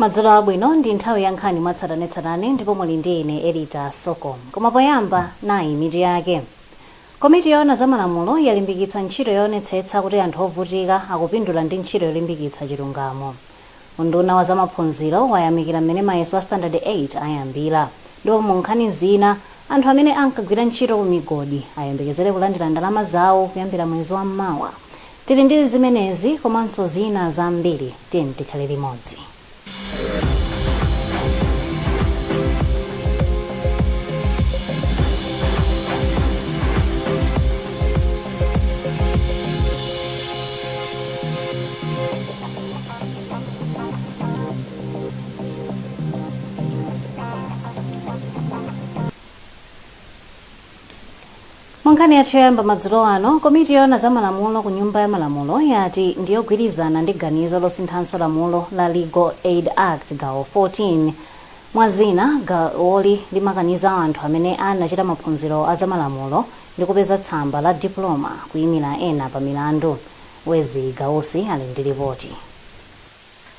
madzulo abwino ndi nthawi ya nkhani mwatsatanetsatane ndipo muli ndi ine elita soko koma poyamba nayi mitu yake komiti yoona za malamulo yalimbikitsa ntchito yoonetsetsa kuti anthu ovutika akupindula ndi ntchito yolimbikitsa chilungamo Unduna wa zamaphunziro wayamikira m'mene mayeso a standard 8 ayambira ndipo mu nkhani zina, anthu amene ankagwira ntchito ku migodi ayembekezere kulandira ndalama zawo kuyambira mwezi wa mawa. Tili ndi zimenezi komanso zina zambiri tiyeni tikhale limodzi. munkhani yathu yoyamba madzulo ano komiti yoona za malamulo ku nyumba ya malamulo yati ndiyogwirizana ndi ganizo losinthanso lamulo la legal aid act gawo 14 mwa zina gawoli limakaniza anthu amene anachita maphunziro a zamalamulo ndi kupeza tsamba la diploma kuyimira ena pa milandu Wezzie Gausi ali ndi lipoti.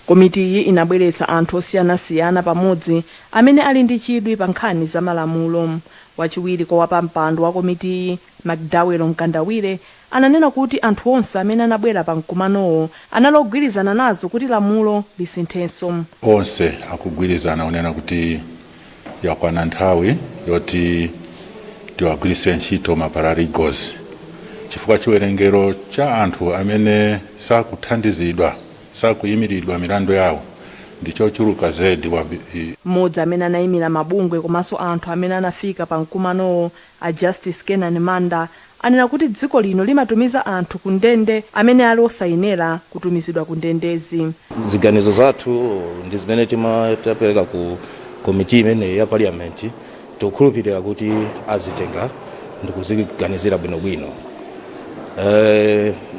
Komitiyi inabweretsa anthu osiyanasiyana pamodzi amene ali ndi chidwi pa nkhani za malamulo. Wachiwiri kwa wapampando wa komitiyi, McDowell Mkandawire, ananena kuti anthu onse amene anabwera pa mkumanowo anali ogwirizana nazo kuti lamulo lisinthenso. Onse akugwirizana kunena kuti yakwana nthawi yoti tiwagwiritse ntchito ma paralegals chifukwa chiwerengero cha anthu amene sakuthandizidwa sakuyimiridwa milandu yawo ndi chochuluka zedi Mmodzi amene anayimira mabungwe komanso anthu amene anafika pa mkumanowo A Justice Kenan Manda anena kuti dziko lino limatumiza anthu ku ndende amene ali osayenera kutumizidwa ku ndendezi. Ziganizo zathu ndi zimene tapereka ku komiti imeneyi ya parliament tikukhulupirira kuti azitenga ndikuziganizira bwinobwino.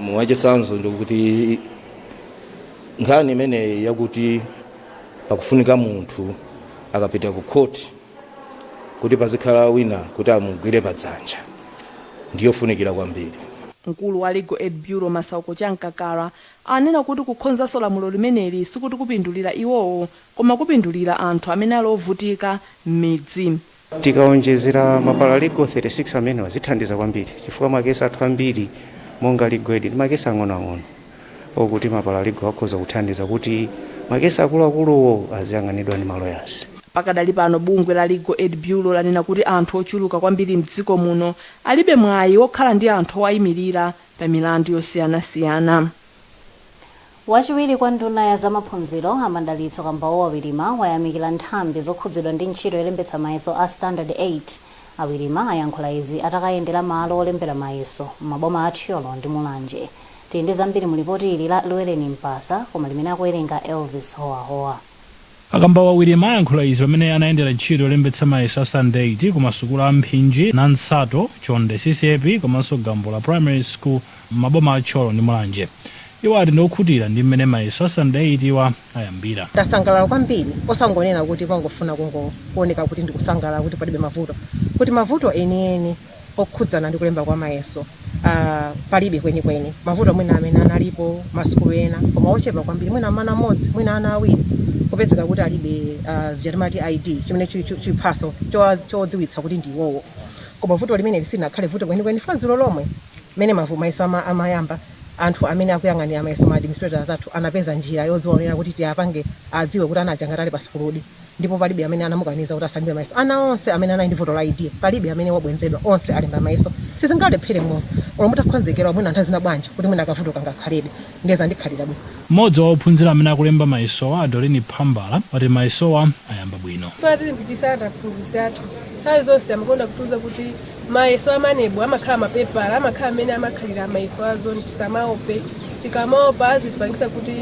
Mwachitsanzo ndikuti nkhani imeneyi yakuti pakufunika munthu akapita ku court. kuti pazikhala wina kuti amugwire padzanja ndiyofunikira kwambiri. Mkulu wa Legal Aid Bureau Masauko Chamkakala anena kuti kukhonzanso lamulo limeneli sikuti kupindulira iwowo koma kupindulira anthu amene ali ovutika m'midzi. Tikaonjezera ma paralegal 36 amenewa zithandiza kwambiri chifukwa ma case athu ambiri monga Legal Aid ndi ma case ang'onoang'ono. okuti maparalegal akhoza kuthandiza kuti makesi akuluakuluwo aziyang'aniridwa ndi maloyazi. Pakadali pano bungwe la Legal Aid Bureau lanena kuti anthu ochuluka kwambiri mdziko muno alibe mwayi wokhala ndi anthu owayimilira pa milandu yosiyanasiyana. Wachiwiri kwa nduna ya za maphunziro, a Madalitso Kambauwa Wirima, wayamikira nthambi zokhudzidwa ndi ntchito yolembetsa mayeso a Standard 8. A Wirima ayankhula izi atakayendera malo olembera mayeso m'maboma a Thyolo ndi Mulanje. Tili ndi zambiri mu lipoti ili la Lweleni Mpasa koma limene akuwerenga Elvis Howahowa. A Kambauwa Wirima ayankhula izi pamene anayendera ntchito yolembetsa mayeso a Standard 8 ku masukulu a Mphinji, Nansato, Chonde CCAP komanso Gambula Primary School m'maboma a Thyolo ndi Mulanje. Iwo ati ndi okhutira ndi m'mene mayeso a Standard 8 wa ayambira. Tasangalala kwambiri, osangonena kuti pongofuna kungooneka kuti ndikusangalala kuti palibe mavuto, kuti mavuto enieni. okhudzana ndi kulemba kwa mayeso uh, palibe kwenikweni mavuto mwina amene analipo masukulu ena koma ochepa kwambiri mwina mwana mmodzi mwina ana awiri kupezeka kuti alibe uh, zija timati id chimene chi- chi- chiphaso chowa- chodziwitsa kuti ndi iwowo koma vuto limene silinakhale vuto kwenikweni chifukwa dzulo lomwe mmene mavu mayeso ama- amayamba anthu amene akuyang'anira mayeso ma administrators athu anapeza njira yodziwaonera kuti tiyapange adziwe kuti ana aja angakhale ali pa sukuludi ndipo palibe amene anamukaniza kuti asalembe mayeso. Ana onse amene anali ndi vuto la ID palibe amene wabwenzedwa onse alemba mayeso. Sizingalephere munthu olo mutakhonzekera olo mwina nthawi zina bwanji kuti mwina kavuto kangakhalebe ndiye zandikhalira bwino. M'modzi wa ophunzira amene akulemba mayesowa a Doreen Phambala wati mayesowa ayamba bwino. Amatilimbikitsa ndi aphunzitsi athu. Nthawi zonse amakonda kutiuza kuti. Mayeso a maneb amakhala mapepala amakhala mmene amakhalira mayeso a zone tisamaope tikamaopa azatipangisa kuti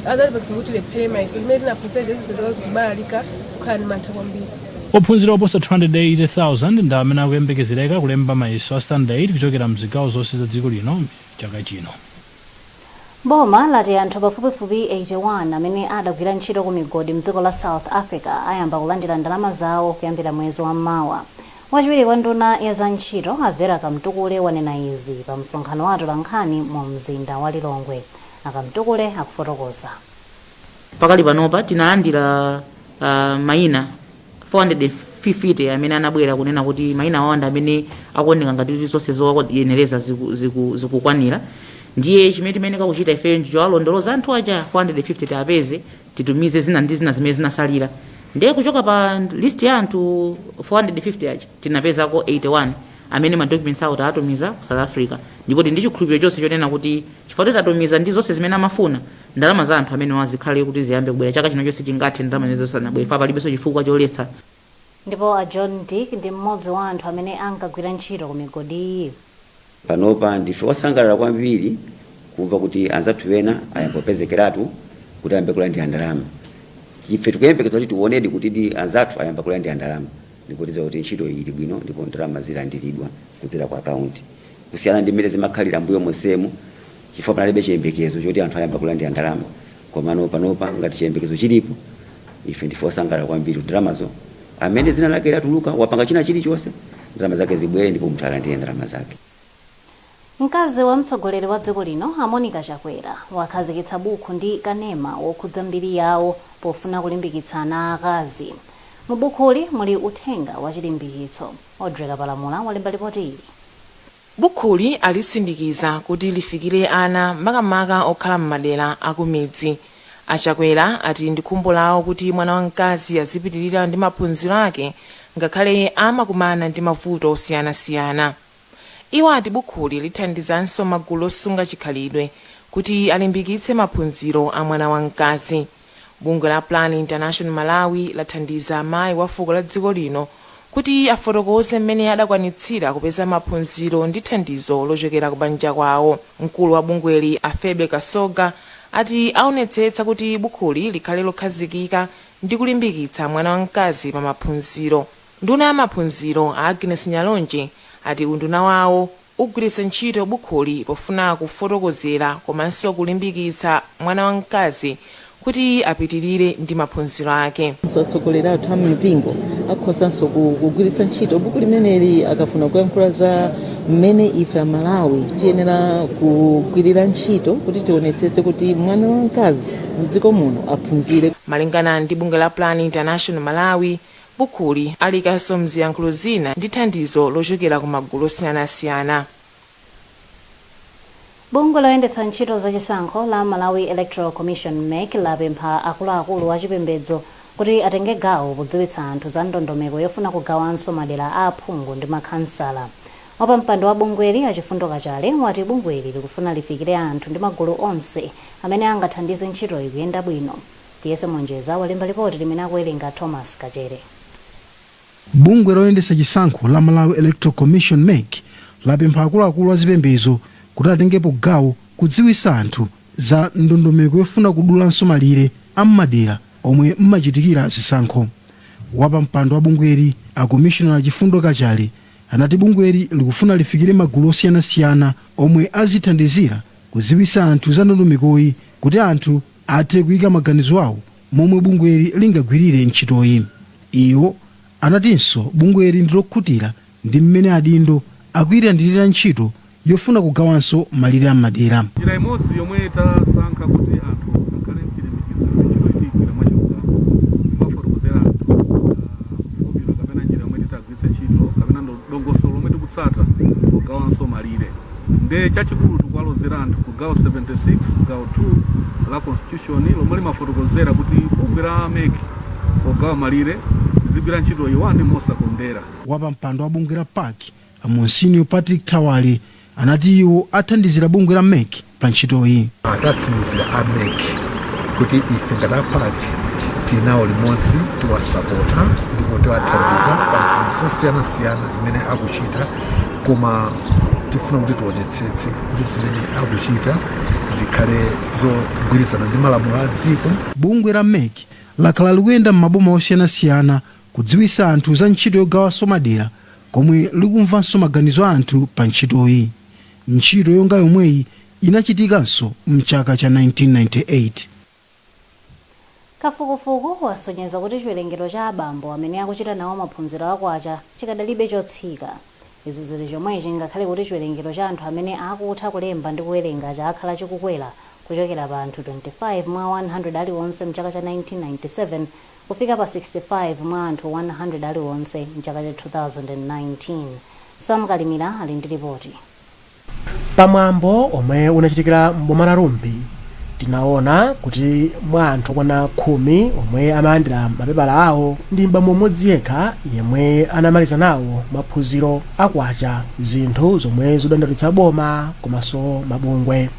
azatipangisa kuti tilephere mayeso zimene tinaphunzira zija zipezeka zikubalalika kukhala ndi mantha kwambiri. Ophunzira oposa 280,000 ndi amene akuyembekezereka kulemba mayeso a standard 8 kuchokera mzigawo zonse za dziko lino chaka chino. Boma lati anthu pafupifupi 81 amene adagwira ntchito ku migodi mdziko la South Africa ayamba kulandira ndalama zawo kuyambira mwezi wa mawa. Wachiwiri kwa nduna ya za ntchito a Vera Kamtukule wanena izi pa msonkhano wa atolankhani mu mzinda wa Lilongwe. A Kamtukule akufotokoza. Pakali panopa tinalandira uh, maina 450 amene anabwera kunena kuti maina awo ndi amene akuoneka ngati kuti zonse zowayenereza ziku- ziku- zikukwanira ndiye chimene timayenera kuchita ifeyo ndichowalondoloza anthu aja 450 tiapeze titumize zina ndi zina zimene zinasalira ndiye kuchoka pa list ya anthu 450 aja tinapezako 81 amene ma documents awo tawatumiza ku south africa ndipo tili ndi chikhulupiriro chonse chonena kuti chifukwa choti tatumiza ndi zonse zimene amafuna Ndalama za anthu amenewa zikhale kuti ziyambe kubwera chaka chino chonse chingathe ndalama zimenezo zisanabwere chifukwa palibenso chifukwa choletsa. Ndipo a John Dick ndi mmodzi wa anthu amene ankagwira ntchito ku migodiyi. Panopa ndife osangalala kwambiri kumva kuti anzathu ena ayamba kupezekeratu kuti ayambe kulandira ndalama. Ife tikuyembekeza kuti tiwonedi kutidi anzathu ayamba kulandira ndalama ndipo tidziwa kuti ntchitoyi ili bwino ndipo ndalama zilandiridwa kudzera ku akaunti kusiyana ndi mmene zimakhalira m'mbuyo monsemu. chifukwa panalibe chiyembekezo choti anthu ayamba kulandira ndalama komano panopa ngati chiyembekezo chilipo ife ndife osangalala kwambiri ndalamazo amene dzina lake latuluka wapanga china chilichonse ndalama zake zibwere ndipo munthu alandire ndalama zake Mkazi wa mtsogoleri wa dziko lino a Monica Chakwera wakhazikitsa bukhu ndi kanema wokhudza mbiri yawo pofuna kulimbikitsa ana aakazi. Mu bukhuli muli uthenga wa chilimbikitso. Audrey Kapalamula walemba lipoti ili. Bukhuli alisindikiza kuti lifikire ana makamaka okhala m'madera akumidzi. A Chakwera ati ndi khumbo lawo kuti mwana wamkazi azipitirira ndi maphunziro ake ngakhale amakumana ndi mavuto osiyanasiyana. Iwo ati bukhuli lithandizanso magulu osunga chikhalidwe kuti alimbikitse maphunziro a mwana wamkazi. Bungwe la Plan International Malawi lathandiza mayi wa fuko la dziko lino kuti afotokoze mmene adakwanitsira kupeza maphunziro ndi thandizo lochokera ku banja kwawo. Mkulu wa bungweli a Phoebe Kasoga ati awonetsetsa kuti bukhuli likhale lokhazikika ndi kulimbikitsa mwana wa mkazi pa maphunziro. Nduna ya maphunziro a Agnes Nyalonje ati unduna wawo ugwiritsa ntchito bukhuli pofuna kufotokozera komanso kulimbikitsa mwana wamkazi kuti apitirire ndi maphunziro ake. Atsogoleri athu a m'mipingo akhozanso kugwiritsa ntchito buku limeneli akafuna kuyankhula za mmene ife a Malawi tiyenera kugwirira ntchito kuti tionetsetse kuti mwana wamkazi m'dziko muno aphunzire. Malingana ndi bungwe la Plan International Malawi, Bukuli aliikanso m'ziyankhulo zina ndi thandizo lochokera ku magulu osiyanasiyana. Bungwe loyendetsa ntchito za chisankho la Malawi Electoral Commission, MEC, lapempha akuluakulu a chipembedzo kuti atenge gawo podziwitsa anthu za ndondomeko yofuna kugawanso madera a aphungu ndi makhansala. Wapampando wa bungweli, a Chifundo Kachale, wati bungweli likufuna lifikire anthu ndi magulu onse amene angathandize ntchitoyi kuyenda bwino. Tiyese Monjeza walemba lipoti limene akuwelenga Thomas Kachere. Bungwe loyendetsa chisankho la Malawi Electoral Commission, mec, lapempha akuluakulu a zipembedzo kuti atengepo gawo kudziwitsa anthu za ndondomeko yofuna kudulanso malire a m'madera omwe m'machitikira zisankho. Wapampando wa bungweli, a Commissioner a Chifundo Kachale, anati bungweli likufuna lifikire magulu osiyanasiyana omwe azithandizira kudziwitsa anthu za ndondomekoyi kuti anthu athe kuika maganizo awo momwe bungweli lingagwirire ntchitoyi. Iwo anatinso bungweli ndi lokhutira ndi mmene adindo akuitandirira ntchito yofuna kugawanso malire a m'madera. Njira imodzi yomwe tasankha kuti anthu akhale nchilimbikitso kuti ntchitoyi tiyigwira mwachilungamo, kumafotokozera anthu ma formula kapena njira yomwe titagwiritse. kugwiritsa ntchito kapena ndo- dongosolo lomwe tikutsata pogawanso malire nde chachikulu tikuwalozera anthu ku gawo 76 gawo 2 la constitution lomwe limafotokozera kuti bungwe la mec pogawa malire lizigwira ntchito iwani mosakondera wapampando wa bungwe la pac a monsinio patrick thawale anati iwo athandizira bungwe la mec pa ntchitoyi. Tatsimikizira a mec kuti ife ngati a pac tili nawo limodzi, tiwasapota ndipo tiwathandiza pa zinthu zosiyanasiyana zimene akuchita koma tifuna kuti tionetsetse kuti zimene akuchita zikhale zogwirizana ndi malamulo a dziko. Bungwe la mec lakhala likuyenda m'maboma osiyanasiyana Kudziwitsa anthu za ntchito yogawanso madera komwe likumvanso maganizo a anthu pa ntchitoyi. Ntchito yonga yomweyi inachitikanso m'chaka cha 1998. Kafukufuku wasonyeza kuti chiwerengero cha abambo amene akuchita nawo maphunziro a kwacha chikadalibe chotsika. Izi zili chomwechi ngakhale kuti chiwerengero cha anthu amene akutha kulemba ndi kuwerenga chakhala chikukwera kuchokera pa anthu 25 mwa 100 aliwonse m'chaka cha 1997, kufika pa 65 mwa anthu 100 aliwonse m'chaka cha 2019. Sam Kalimira ali ndi lipoti. Pamwambo omwe unachitikira m'boma la Rumphi tinaona kuti mwa anthu okwana khumi omwe amalandira mapepala awo ndi m'bambo mmodzi yekha yemwe anamaliza nawo maphunziro akwacha zinthu zomwe zadandaulitsa boma komanso mabungwe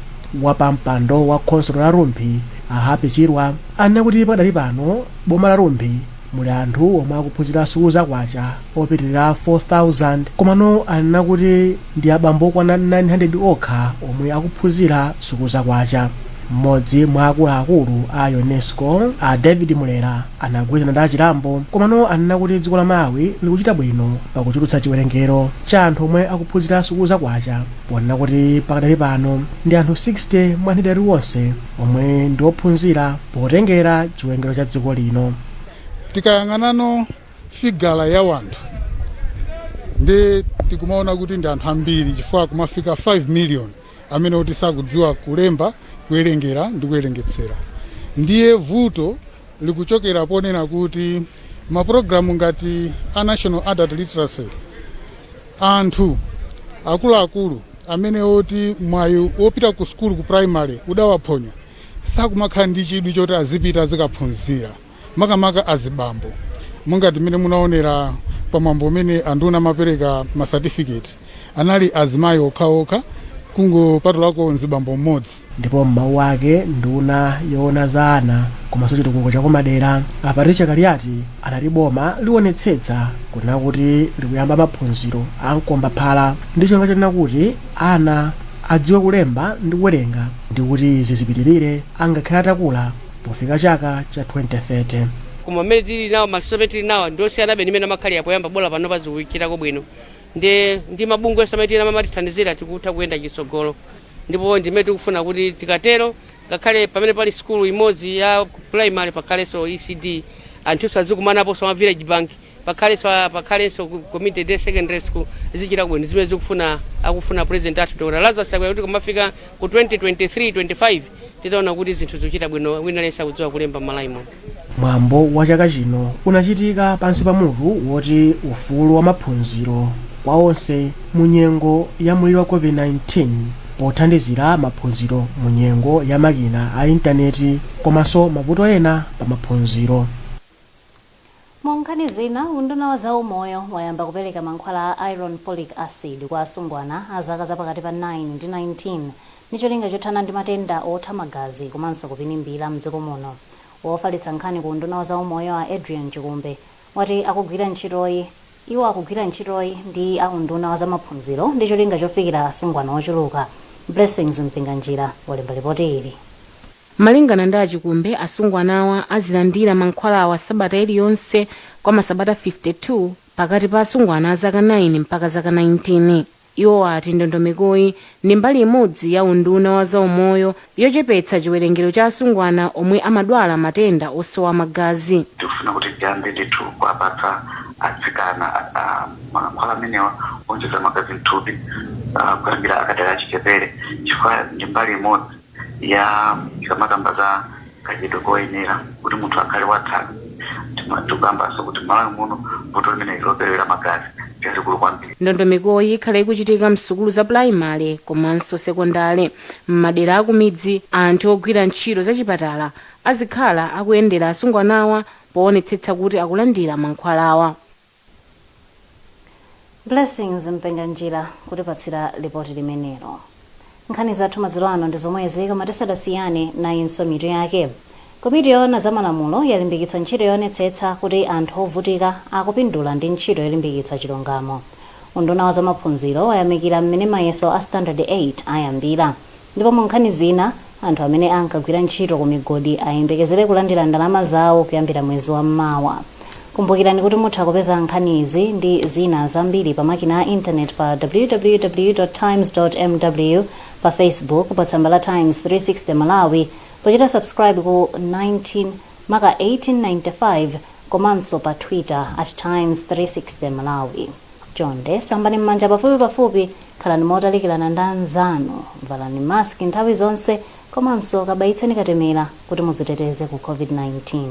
wapampando wa khonsolo la Rumphi a Happy Chirwa Anena kuti pakadali pano m'boma la Rumphi muli anthu omwe akuphunzira sukulu za kwacha opitilira 4,000 komano anena kuti ndi abambo okwana 900 okha omwe akuphunzira sukulu za kwacha. M'modzi mwa akulu akulu a Unesco a David Mulera anagwirizana ndi a Chirambo komano anena kuti dziko la Malawi likuchita bwino pakuchulutsa chiwerengero cha anthu omwe akuphunzira sukulu za kwacha ponena kuti pakadali pano ndi anthu 60 mwa 100 aliwonse omwe ndi ophunzira potengera chiwerengero cha dziko lino. tikayang'anano figala ya wanthu ndiye tikumaona kuti ndi anthu ambiri chifukwa kumafika 5 million amene oti sakudziwa kulemba kuwerengera ndi kuwerengetsera ndiye vuto likuchokera ponena kuti mapulogalamu ngati a national adult literacy anthu akuluakulu amene oti mwayi wopita ku sukulu ku primary udawaphonya sakumakhala ndi chidwi choti azipita azikaphunzira makamaka azibambo mungati mmene munaonera pa mwambo umene anduna amapereka ma certificate anali azimayi okhaokha kungopatulako mzibambo mmodzi. Ndipo m'mawu ake nduna yoona za ana komanso chitukuko cha kumadera a Patricia Kaliati anati boma lionetsetsa kunena kuti likuyamba maphunziro a mkombaphala ndi cholinga chonena kuti ana adziwe kulemba ndi kuwerenga ndi kuti zizipitirire angakhale atakula pofika chaka cha 2030. Koma mmene tili nawo, maluso amene tili nawo ndi osiyanabe ndi mmene amakhalira poyamba, bola panopa zikuchitako bwino. nde ndi mabungweso amene tili nawo amatithandizira tikutha kuyenda chitsogolo ndipo ndimene tikufuna kuti tikatero ngakhale pamene pali sukulu imodzi ya primary pakhaleso ecd anthuso azikumanaposo ma village bank pakhaleso pakhaleso ku- community day secondary school zichita bwino zimene zikufuna akufuna president athu dr lazarus chakwera kuti kumafika ku 2023 25 titaona kuti zinthu zikuchita bwino wina aliyense akudziwa kulemba m'Malawi muno Mwambo wa chaka chino unachitika pansi pa mutu woti Ufulu wa Maphunziro kwa Onse mu Nyengo ya Mliri wa COVID-19 pothandizira maphunziro mu nyengo ya makina a intaneti komanso mavuto ena pa maphunziro. Mu nkhani zina, unduna wa zaumoyo wayamba kupereka mankhwala a iron folic acid kwa asungwana a zaka za pakati pa 9 ndi 19 ndi cholinga chothana ndi matenda otha magazi komanso kupinimbira m'dziko muno. Wofalitsa nkhani ku unduna wa zaumoyo a Adrian Chikumbe wati akugwira ntchitoyi. Iwo akugwira ntchitoyi ndi a unduna wa zamaphunziro ndi cholinga chofikira asungwana ochuluka. Blessings Mpinganjira walemba lipoti ili. Malingana ndi a Chikumbe, asungwanawa azilandira mankhwalawa sabata iliyonse kwa masabata 52 pakati pa asungwana a zaka 9 mpaka zaka 19. Iwo ati ndondomekoyi ndi mbali imodzi ya unduna wa za umoyo yochepetsa chiwerengero cha asungwana omwe amadwala matenda osowa magazi. Tikufuna kuti tiyambe ndithu kuwapatsa atsikana mankhwala amenewa owonjeza magazi mthupi kuyambira akadali achichepere chifukwa ndi mbali imodzi. ya ikamakamba za kadyedwe koyenera kuti munthu akhale wathanzi Tima- tikukambanso kuti m'Malawi muno vuto limeneli loperewera magazi ndi lalikulu kwambiri ndondomekoyi ikhala ikuchitika msukulu za pulayimale komanso sekondale m'madera akumidzi anthu ogwira ntchito zachipatala azikhala akuyendera asungwanawa poonetsetsa kuti akulandira mankhwalawa Blessings Mpinganjira kutipatsira lipoti limenelo. Nkhani zathu madzulo ano ndi zomwezi koma tisadasiyane nayinso mitu yake. Komiti yoona za malamulo yalimbikitsa ntchito yoonetsetsa kuti anthu ovutika akupindula ndi ntchito yolimbikitsa chilungamo. Unduna wa zamaphunziro wayamikira mmene mayeso a Standard 8 ayambira. Ndipo mu nkhani zina, anthu amene ankagwira ntchito ku migodi ayembekezere kulandira ndalama zawo kuyambira mwezi wa mawa. Kumbukirani kuti mutha kupeza nkhani izi ndi zina zambiri pa makina a internet pa www.times.mw, pa Facebook pa tsamba la Times 360 Malawi pochita subscribe ku 19 maka 1895 komanso pa Twitter @times360malawi. Chonde sambani m'manja pafupipafupi, khalani motalikirana ndi anzanu, valani mask nthawi zonse, komanso kabayitseni katemera kuti mudziteteze ku COVID-19.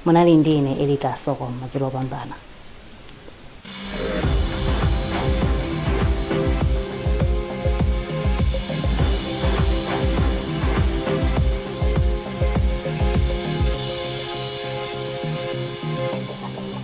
Munali ndi ine Elita Soko, madzulo opambana.